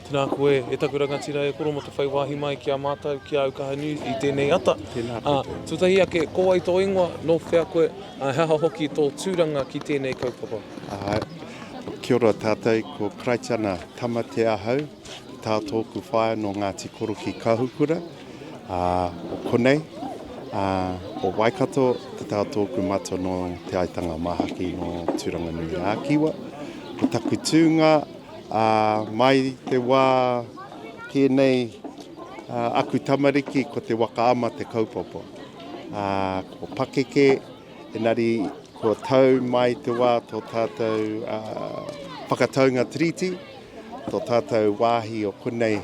Tēnā koe e taku rangatira e koro mo te whai wāhi mai ki a mātou, ki a Aukaha News i tēnei ata. Tēnā koe. Uh, tutahi ake, ko wai tō ingoa, nō whea koe, uh, he aha hoki tō tūranga ki tēnei kaupapa? Uh, kia ora tātou, ko Kraitana Tamatea ahau, tā tōku whaea nō Ngāti Koroki Kahukura. ā, o konei, ā, o Waikato, te taha tōku matua nō Te Aitanga Māhaki, nō Tūranganui-ā-Kiwa. Ko taku tūnga, ā, mai te wā kē nei, ā, aku tamariki ko te waka ama te kaupapa. Ā, ko pakeke, engari kua tau mai te wā tō tātou, ā, whakataunga tiriti, Tō tātou wāhi o konei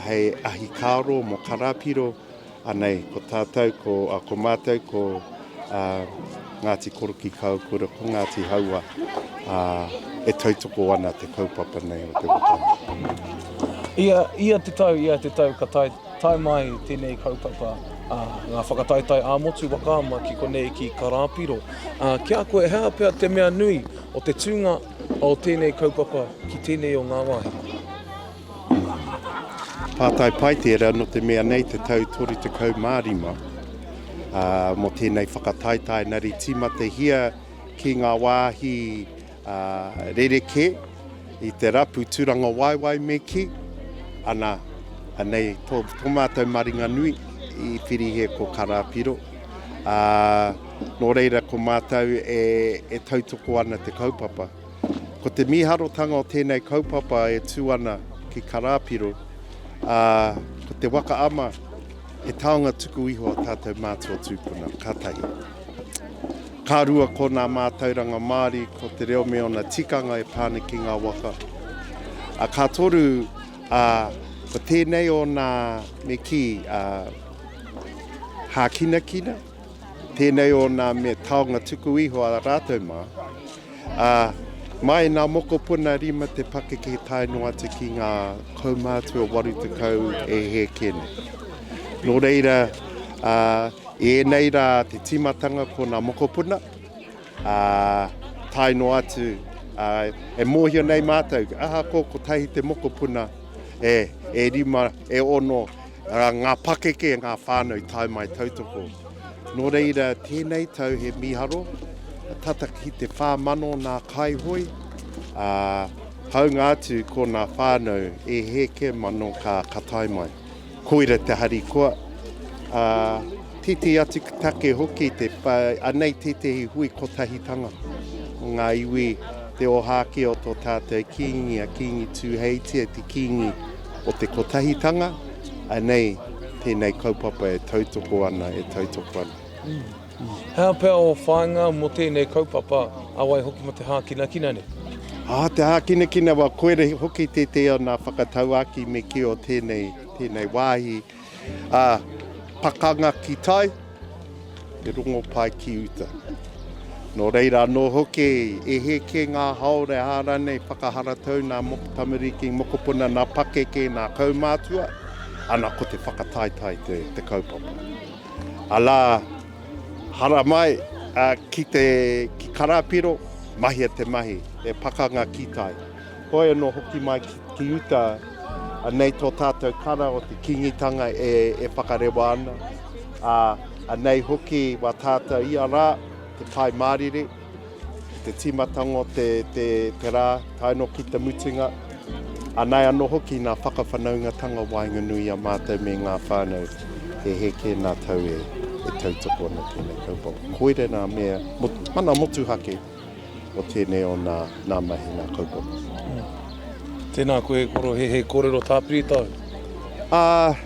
hei ahikāro mō Karāpiro, anei ko tātou, ko mātou, ko Ngāti Korokikāukura, ko Ngāti Hauā, e tautoko ana te kaupapa nei o te wokanga. Ia te tau, ia te tau ka tae mai tēnei kaupapa, ngā whakataetae ā-motu waka ama ki konei ki Karāpiro. Ki a koe, he aha pea te mea nui o te tūnga? O tēnei kaupapa ki tēnei o ngā wāhi. Pātai pai tērā nō te mea nei te tau 35 ā, mō tēnei whakataetae nari tīmatahia ki ngā wāhi ā, rerekē i te rapu tūrangawaewae me kī, ana, anei tō, tō mātou maringanui i Whirihe ko Karāpiro, ā, Nō reira ko mātou e, e tautoko ana te kaupapa. Ko te mīharotanga o tēnei kaupapa e tū ana ki Karāpiro, ā, ko te waka ama, he taonga tuku iho a tātou mātua tūpuna, ka tahi. Ka rua ko nā mātauranga Māori, ko te reo me ōna tikanga e pā ana ki ngā waka. A, ka toru, a, ko tēnei o nā me kī, a, hākinakina, Tēnei o nā mea taonga tuku iho a rātou mā. Ā, mai nā mokopuna rima te pakeke tae noa atu ki ngā kaumātua 80 e hēke nei. Nō reira, ā, i ēnei rā te tīmatanga ko nā mokopuna, ā, tae noa atu, ā, e mōhio nei mātou, ahakoa kotahi te mokopuna, e, e rima, e ono, Ngā pakeke, ngā whānau tae mai tautoko. Nō reira, tēnei tau he mīharo, tata ki te whā mano nā Kaihoe, ā, hāunga atu ko nā whānau e heke mano ka ka tae mai. Koira te harikoa, ā, tētehi atu take hoki te whā, anei tētehi hui kotahitanga o ngā iwi, te ōhākī o tō tātou Kīngi a Kīngi Tūheitia, te Kīngi. o te kotahitanga, anei tēnei kaupapa e tautoko ana, e tautoko ana. He aha pea ō whāinga mō tēnei kaupapa, a wai hoki mō te hākinakina nei? Ā, te hākinakina, wā, koira hoki tētehi o nā whakatauākī me kī o tēnei, tēnei wāhi. Ā, pakanga ki tai, te rongopai ki uta. Nō reira anō hoki, e hē kē ngā haora e hā rānei whakaharatau nā moko tamariki, mokopuna, nā pakeke, nā kaumātua, ana ko te whakataetae te, te kaupapa. Alā, haramai, ā, ki te, ki Karāpiro, mahia te mahi, he pakanga ki tai. Hoi anō hoki mai ki uta, anei tō tātou kara o te Kīngitanga e whakarewa ana, ā, anei hoki wā tātou ia rā, te Pai Mārire, te tīmatanga o te rā, tae noa ki te mutunga, anei anō hoki nā whakawhanaungatanga waenganui a mātou me ngā whānau, he heke nā tau e tautoko ana tēnei kaupapa. Koirā ngā mea, mana motuhake. o tēnei o nā, nā mahi, nā kaupapa. Mm. Tēnā koe e koro, he, he kōrero tāpiri tau? Ā, uh,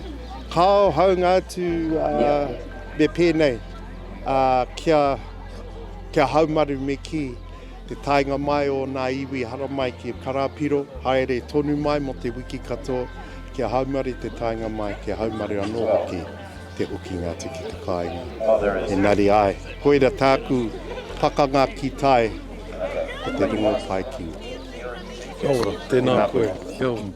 kāo haunga atu uh, me pēnei, uh, kia, kia haumaru me ki te taenga mai o nā iwi haramai ki Karapiro, haere tonu mai mo te wiki katoa, kia haumaru te taenga mai, kia haumaru anō hoki. te hokinga atu ki te kāinga. Engari āe, koira tāku pakanga ki tai, ko te rongo pai ki uta. Kia ora, tēnā koe. Kia ora.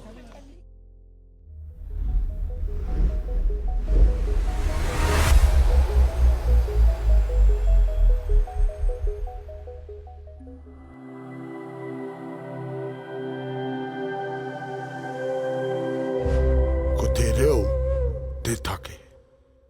Ko te reo te take.